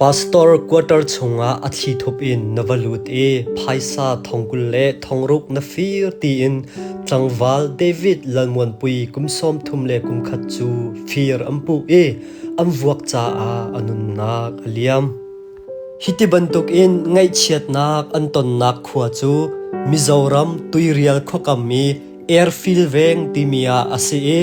Pastor quarter chungah a thli thup in na va lut i phaisa thong kul le thong ruk na fir tiin tlangval David Lalmuanpui kum sawm thum le kum khat cu fir an puh i an vuak caah a nunnak a liam. Hiti bantukin ngaihchiatnak an tonnak khua cu Mizoram tuirial khuakam i Airfield Veng timi ah a si i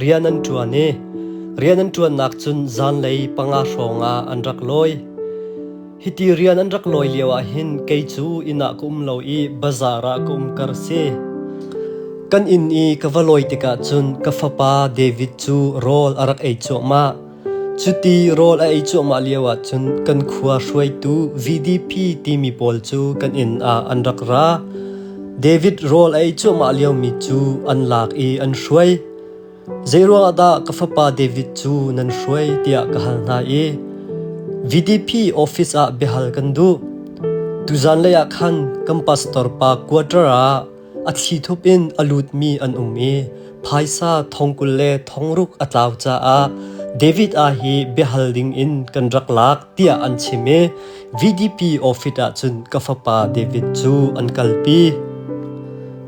Rian an ṭuan i rian an ṭuannak cun zanlei panga hrawng ah an rak lawi. Hiti rian an rak lawi lioah hin kei cu inn ah ka um lo i bazar ah ka um kar si. Kan inn i ka va lawi tikah cun ka fapa David cu rawl a rak ei cuahmah. Cuti rawl a ei cuahmah lio ahcun kan khua hruaitu VDP timi pawl cu kan inn ah an rak ra. David rawl a ei cuahmah liomi cu an lak i an hruai. Zeiruangah dah ka fapa David cu nan hruai tiah ka hal hna i VDP office ah biahal kan duh. Tuzan lei ah khan kan pastor pa quarter ah A thlithup in a lutmi an um i phaisa thong kul le thong ruk a tlau caah David aa hi biahal ding in kan rak lak tiah an chim i VDP office ah cun ka fapa David cu an kalpi.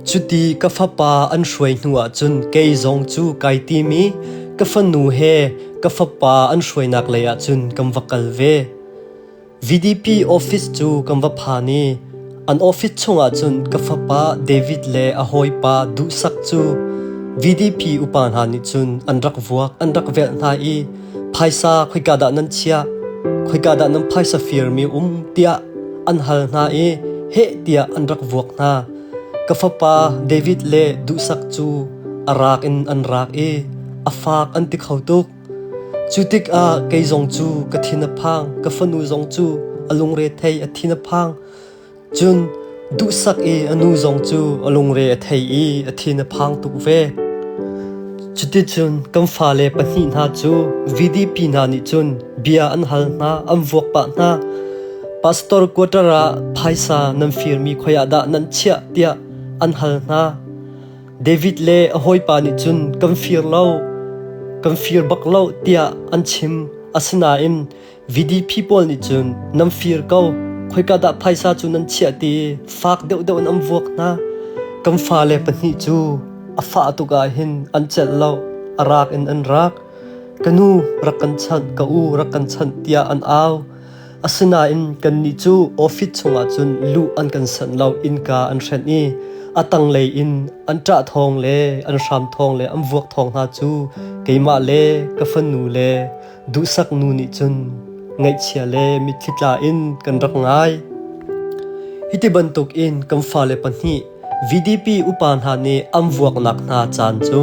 Cuti ka fapa an hruai hnu ah cun kei zong cu kai tim i ka fanu he ka fapa an hruainak lei ah cun kan va kal ve. VDP office cu kan va phan i an office chungah cun ka fapa David le a hawipa duhsak cu VDP upa hna nih cun an rak vuak an rak velh hna i phaisa khoika dah nan chiah khoika dah nan phaisa firmi um tiah an hal hna i heh tiah an rak vuak hna ka fapa David le duhsak cu a rak in an rak i a faak an ti kho tuk Cu tikah kei zong cu ka thin a phang, ka fanu zong cu a lungre thei a thin a phang. Cun duhsak i a nu zong cu a lungre a thei i a thin a phang tuk ve. Cuticun kan fale pahnih hna cu VDP hna nih cun bia an hal hna, an vuak pah hna. Pastor quarter ah phaisa nan firmi khoi ah dah nan chiah tiah an hal hna. David le a hawipa nih cun kan fir lo, kan fir bak lo tiah an chim. Asinain VDP pawl nih cun nan fir ko, khoika dah phaisa cu nan chiah ti i fak deuhdeuh in an vuak hna. Kan fale pahnih cu a fah tuk ahhin an celh lo, a rak in an rak. Ka nu rak kan chanh, ka u rak kan chanh tiah an au. Asinain kannih cu office chungah cun luh an kan sanh lo innka an hrenh i a tanglei in an ṭah thawng le an hram thawng le an vuak thawng hna cu keimah le ka fanu le duhsak nu nih cun ngaihchia le mitthli tla in kan rak ngai. Hiti bantuk in kan fale pahnih VDP upa hna nih an vuaknak hna caan cu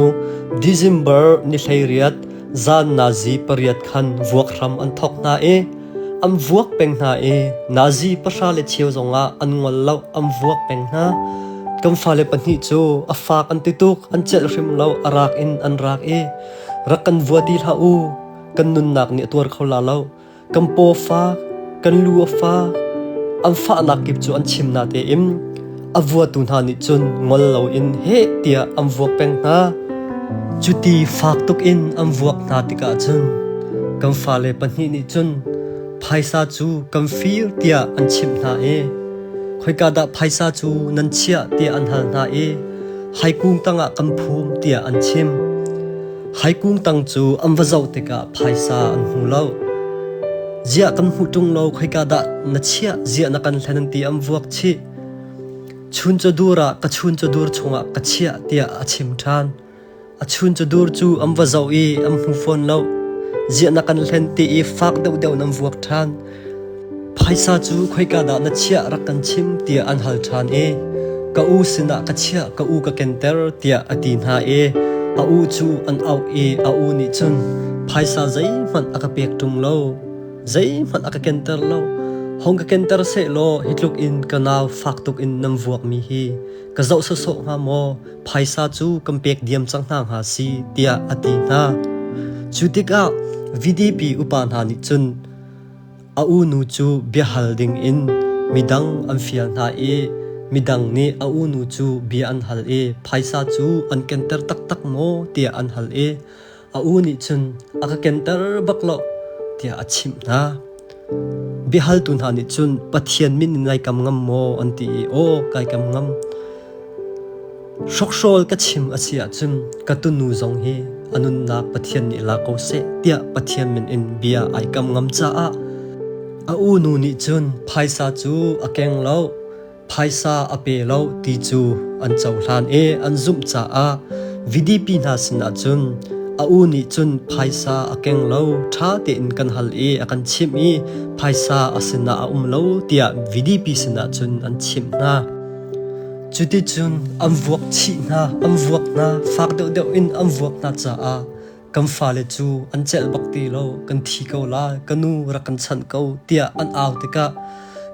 December ni hleiriat zan Nazi pariat khan vuak hram an thawk hna i an vuak peng hna i Nazi pahra le cheu zongah an ngol lo an vuak peng hna kan fale pahnih cu a faak an ti tuk an celh hrim lo a rak in an rak i rak kan vua ti hlah u kan nunnak nih a tuar kho la lo kan paw fa, kan lu a fa, an fahnak kip cu an chim na tein a vuatu hna nih cun ngol loin heh tiah an vuak peng hna. Cuti fak tuk in an vuak hna tikah cun kan fale pahnih nih cun phaisa cu kan fir tiah an chimh hna i khoika dah phaisa cu nan chiah tiah an hal hna i haikung tangah kan phum tiah an chim. Hai kung tang cu an va zoh tikah phaisa an hmu lo. Ziah kan hmu ṭung lo khoika dah na chiah ziah na kan hlen ti an vuak chih. Chun cu dur ah ka chun cu dur chungah ka chiah tiah a chim ṭhan. A chun cu dur cu an va zoh i an hmu fawn lo. Ziah na kan hlen ti i fak deuhdeuh nan vuak ṭhan. Phaisa cu khoika dah na chiah rak kan chim tiah an hal ṭhan i ka u sinah ka chiah ka u ka kenter tiah a ti hna i a u cu an auh i a u nih cun phaisa zeihmanh a ka pek ṭung lo zeihmanh a ka kenter lo hong ka kenter seh law hi tluk in ka nau fak tuk in nan vuakmi hi ka zoh sawsawh hnga maw phaisa cu kan pek diam cang hna hnga si tiah a ti hna cu tikah VDP upa hna nih cun A unu cu biahal dingin midang an fial hna i midang nih a unu cu bia an hal i phaisa cu an kenter taktak maw tiah an hal i a u nih cun a ka kenter bak lo tiah a chimh hna. Biahaltu hna nih cun Pathian min in lai kam ngam maw an ti i aw kai kam ngam. Hrokhrawl ka chim a si ahcun ka tunu zong hi a nunnak Pathian nih la ko seh tiah Pathian min in bia ai kam ngam caah a u nu nih cun phaisa cu a keng lo phaisa a pe lo ti cu an cohlan i an zumh caah VDP hna sinah cun a u nih cun phaisa a keng lo ṭha tein kan hal i a kan chimh i phaisa a sinah a um lo tiah VDP sinah cun an chimh hna. Cuticun an vuak chih hna, an vuak hna, fak deuhdeuh in an vuak hna caah kan fale cu an celh bak ti lo, kan thi ko la, ka nu rak kan chanh ko tiah an au tikah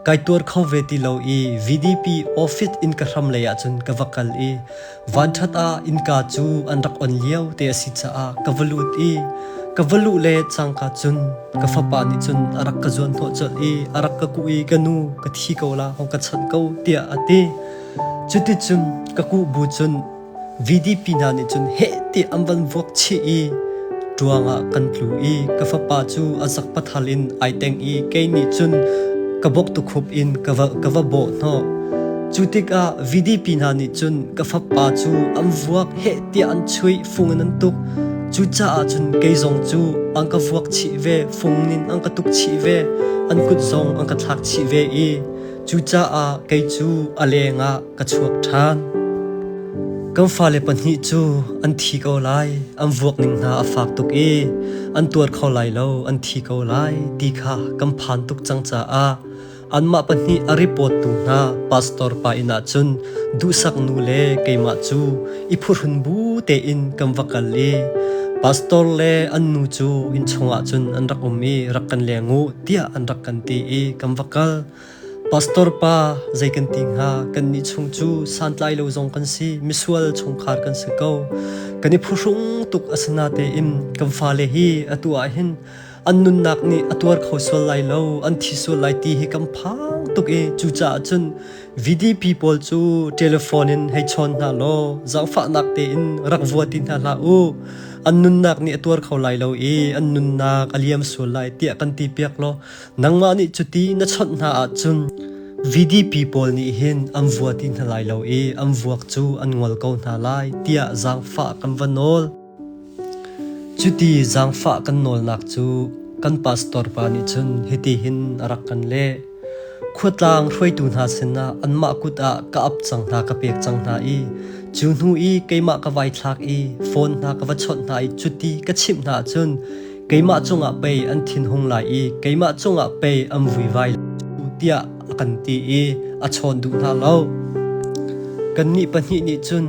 kai tuar kho ve ti lo i VDP office in ka hram lei ahcun ka va kal i vanṭhat ah innka cu an rak on lio te a si caah ka va lut i ka va luh le cangka cun ka fapa nih cun a rak ka zuan hnawh colh i a rak ka kuh i ka nu ka thi ko la hong ka chawnh ko tiah a ti cuticun ka kuh bu cun VDP hna nih cun heh ti an van vuak chih i ṭuang ah kan tlu i ka fapa cu a sak pathal in ai teng i kei nih cun ka bok tukhup in ka va ka va bawh hnawh cu tikah VDP hna nih cun ka fapa cu an vuak heh tiah an chuih fung in an tuk cucaah cun kei zong cu an ka vuak chih ve fung nin an ka tuk chih ve an kut zong an ka thlak chih ve i cucaah kei cu a lengah ka chuak ṭhan kan fale pahnih cu an thi ko lai an vuak ning hna a fak tuk i an tuar kho lai lo an thi ko lai ti kha kan phan tuk cang caah Anmah pahnih a repawttu hna pastor pa inn ah cun duhsak nu le keimah cu i phuhrun bu tein kan va kal i pastor le an nu cu inn chungah cun an rak um i rak kan leng u tiah an rak kan ti i kan va kal. Pastor pa zei kan ti hnga kan nih chung cu santlai lo zong kan si misual chungkhar kan si ko kan i phuhrung tuk asina tein kan fale hi atu ah hin an nunnak nih a tuar kho sual lai lo an thi sual lai ti hi kan phang tuk i cucaah cun VDP pawl cu telephone in hei chawn hna law zaangfahnak tein rak vua ti hna hlah u an nunnak nih a tuar kho lai lo i an nunnak a liam sual lai tiah kan ti piak law nangmah nih cuti na chawnh hna ah cun VDP pawl nih hin am vua ti hna lai lo i am vuak cu an ngol ko hna lai tiah zaangfah kan va nawl Cuti zaangfah kan nawlnak cu kan pastor pa nih cun hitihin a rak kan leh: Khuatlang hruaitu hna sinah anmah kut ah ka ap cang hna ka pek cang hna i cu hnu i keimah ka vai thlak i phone hna ka va chawnh hna i cuti ka chimh hna ahcun keimah cungah pei an thinhung lai i keimah cungah pei an vuivai cu tiah a kan ti i a chawn duh hna lo. Kannih pahnih nih cun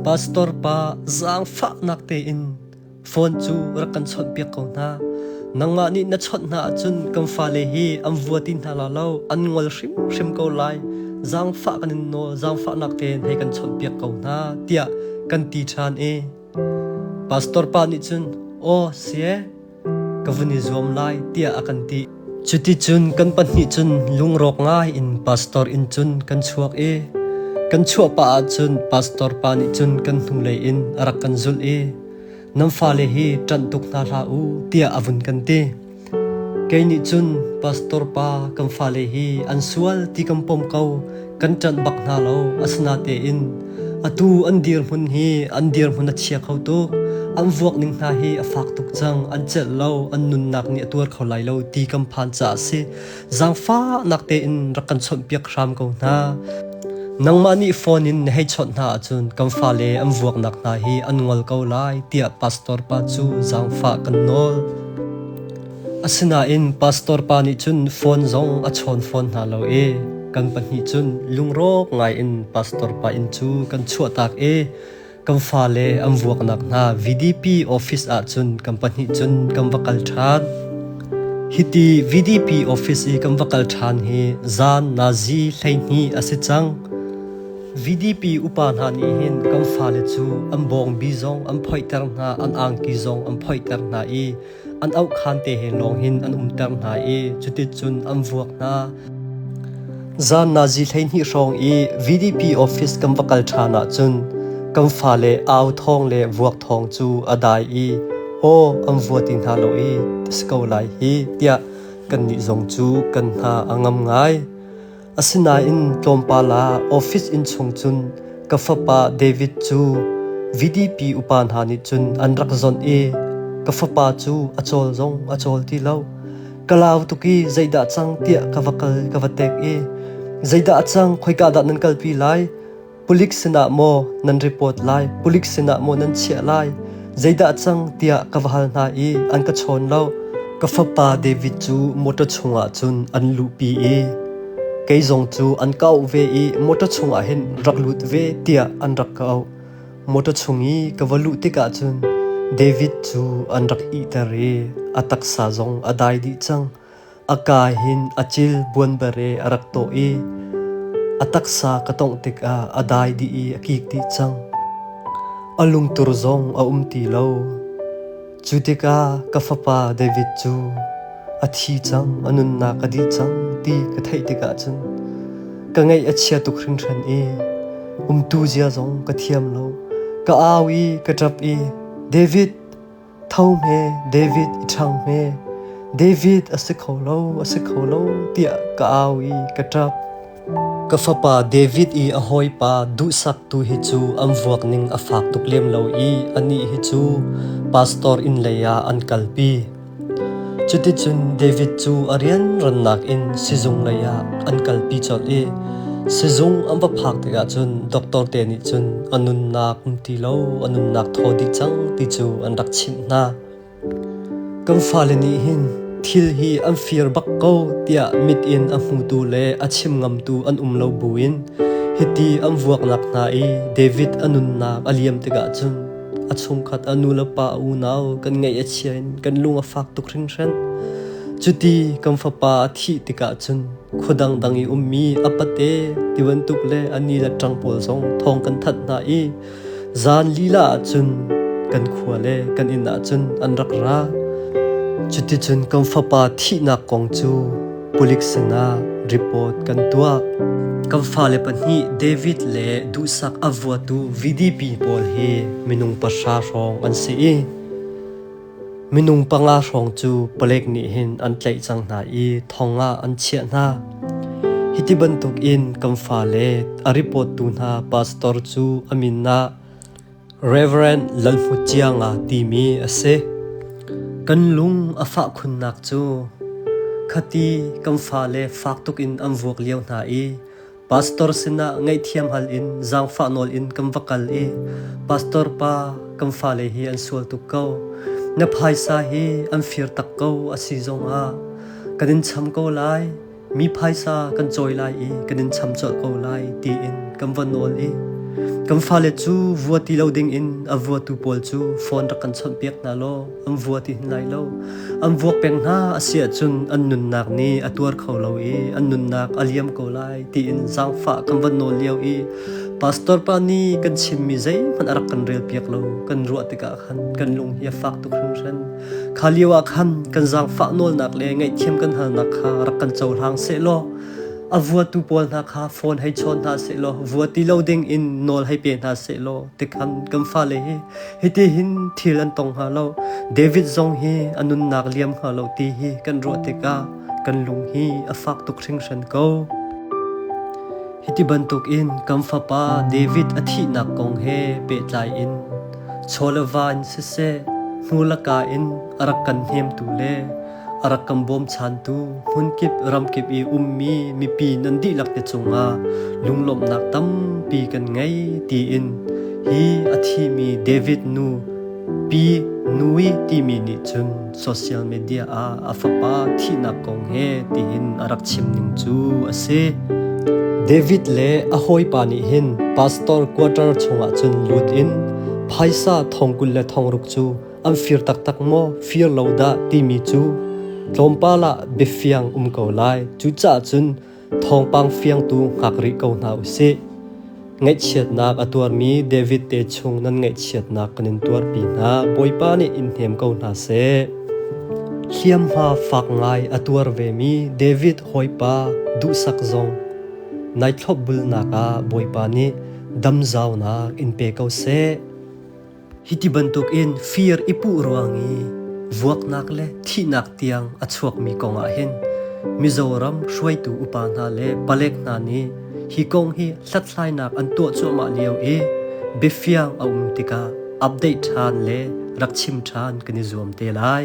Pastor pa zaangfahnak tein phone cu rak kan chawnhpiak ko hna. Nangmah nih na chawnh hna ahcun kan fale hi an vua ti hna la lo, an ngol hrimhrim ko lai. Zaangfah kan in nawl, zaangfahnak tein hei kan chawnhpiak ko hna tiah kan ti ṭhan i pastor pa nih cun aw sie ka vun i zuam lai tiah a kan ti. Cuticun kan pahnih cun lungrawk ngai in pastor inn cun kan chuak i kan chuah pah ahcun pastor pa nih cun kan hnulei in a rak kan zulh i nan fale hi ṭanh tuk hna hlah u tiah a vun kan ti. Kei nih cun pastor pa kan fale hi an sual ti kan pom ko kan ṭanh bak hna lo asinatein atu an dirhmun hi an dirhmun a chia kho tuk an vuak ning hna hi a fak tuk cang an celh lo an nunnak nih a tuar kho lai lo ti kan phan ca a si zangfahnak tein rak kan chawnhpiak hram ko hna nangmah nih phone in na hei chawnh hna ahcun kan fale an vuaknak hna hi an ngol ko lai tiah pastor pa cu zangfah kan nawl Asinain pastor pa nih cun phone zong a chawn fawn hna lo i kan pahnih cun lungrawk ngaiin pastor pa inn cu kan chuahtak i kan fale an vuaknak hna VDP office ah cun kan pahnih cun kan va kal ṭhan. Hiti VDP office i kan va kal ṭhan hi zan nazi hleihnih a si cang. VDP upa hna nih hin kan fale cu an bawngbi zong an phoihter hna, an angki zong an phoihter hna i an auhkhan te he lawng hin an umter hna i cuticun an vuak hna. Zan nazi hleihnih hrawng i VDP office kan va kal ṭhan ahcun kan fa le au thawng le vuak thawng cu a dai i ho an vua ti hna lo i ta si ko lai hi tiah kannih zong cu kan hna a ngam ngai. Asinain tlawmpal ah office inn chung cun ka fapa David cu VDP upa hna nih cun an rak zonh i ka fapa cu a cawl zong a cawl ti lo. Ka lau tuk i zeidah cang tiah ka va kal ka va tek i zeidah a cang khoika dah nan kalpi lai? Pulik sinah maw nan report lai, pulik sinah maw nan chiah lai, zeidah cang tiah ka va hal hna i an ka chawn lo. Ka fapa David cu motor chungah cun an luhpi i kei zong cu an kau ve i motor chungah hin rak lut ve tiah an rak ka auh. Motor chung i ka va luh tikah cun David cu an rak ihter i a taksa zong a dai dih cang. a kaa hin a cil buanbere a rak tawh i a taksa ka tawngh tikah a dai dih i a kik dih cang. A lungtur zong a um ti lo. Cu tikah ka fapa David cu a thi cang, a nunnak a dih cang ti ka theih tikah cun ka ngaih a chia tuk hringhran i umtu zia zong ka thiam lo. Ka au i ka ṭap i, David, Tho hme David i ṭhang hme, David a si kho lo, a si kho lo tiah ka au i ka ṭap. Ka fapa David i a hawipa duhsaktu hi cu an vuak ning a fak tuk lem lo i anih hi cu pastor inn leiah an kalpi. Cuticun David cu a rianrannak in sizung leiah an kalpi colh i sizung an va phak tikah cun doctor te nih cun a nunnak um ti lo, a nunnak thaw dih cang ti cu an rak chimh hna. Kan fale nih hin thil hi an fir bak ko tiah mit in a hmutu le a chim ngamtu an um lo bu in hiti an vuaknak hna i David a nunnak a liam tikah cun A chungkhat a nu le pa a unau kan ngaih a chia in kan lung a fak tuk hringhran. Cuti kan fapa a thih tikah cun khua dangdang i ummi a pate ti bantuk le a ni le ṭang pawl zong thawng kan that hna i zan lila ah cun kan khua le kan inn ah cun an rak ra. Cuticun kan fapa thihnak kong cu Pulik sinah report kan tuah. Kan fale pahnih David le duhsak a vuatu VDP pawl hi minung pahra hrawng an si i minung panga hrawng cu palek nih hin an tlaih cang hna i thong ah an chiah hna. Hiti bantuk in kan fale a report tu hna pastor cu a min ah Rev. Lalhmut Cianga timi a si. Kan lung a fah khunnak cu khati kan fale fak tuk in an vuak lio hna i pastor sinah ngaihthiam hal in zaangfah nawl in kan va kal i pastor pa kan fale hi an sual tuk ko na phaisa hi an fir tak ko a si zongah kan in cham ko lai Mi phaisa kan cawi lai i kan in cham colh ko lai tiin kan von nawl i kan fale cu vua ti lo dingin a vuatu pawl cu phone rak kan chawnhpiak hna law an vua ti hin lai lo an vuak peng hna a si ahcun an nunnak nih a tuar kho lo i an nunnak a liam ko lai tiin zaangfah kan von nawl lio i pastor pa nih kan chimmi zeihmanh a rak kan relpiak lo kan ruah tikah khan kan lung hi a fak tuk hringhran Kha lio ah khan kan zaangfah nawlnak le ngaihthiam kan halnak kha rak kan cohlang sehlaw a vuatu pawl hna kha phone hei chawn hna sehlaw vua ti lo ding in nawl hei pe hna sehlaw tikhan kan fale hi hiti hin thil an tong hnga lo David zong hi a nunnak liam hnga lo ti hi kan ruah tikah kan lung hi a fak tuk hringhran ko hiti bantuk in kan fapa David a thihnak kong he pehtlai in Chaw le va in siseh, hnu laka in a rak kan hnemtu le a rak kan bawmchantu hmunkip ramkip i ummi mipi nan dihlak te cungah lunglawmhnak tampi kan ngei tiin hi a thimi David nu, Pi Nui timi nih cun social media ah a fapa thihnak kong he tihin a rak chim ning cu a si. David le a hawipa nih hin pastor quarter chungah cun lut in phaisa thong kul le thong ruk cu an fir taktak maw fir lo dah timi cu tlawmpal ah biafiang um ko lai cucaah cun thawngpang fiangtu ngak rih ko hna u sih. Ngaihchiatnak a tuarmi David te chung nan ngaihchiatnak kan in tuarpi hna Bawipa nih in hnem ko hna seh. Hliamhma fak ngai a tuar vemi David hoipa duhsak zong nai thlopbulnak ah Bawipa nih damzaunak in pe ko seh. Hi ti bantukin fir i puh ruang i vuaknak le thihnak tiang a chuakmi kongah hin Mizoram hruaitu upa hna le palek hna nih hi kong hi hlathlainak an tuah cuahmah lio i biafiang a um tikah update ṭhan le rak chim ṭhan kan i zuam te lai.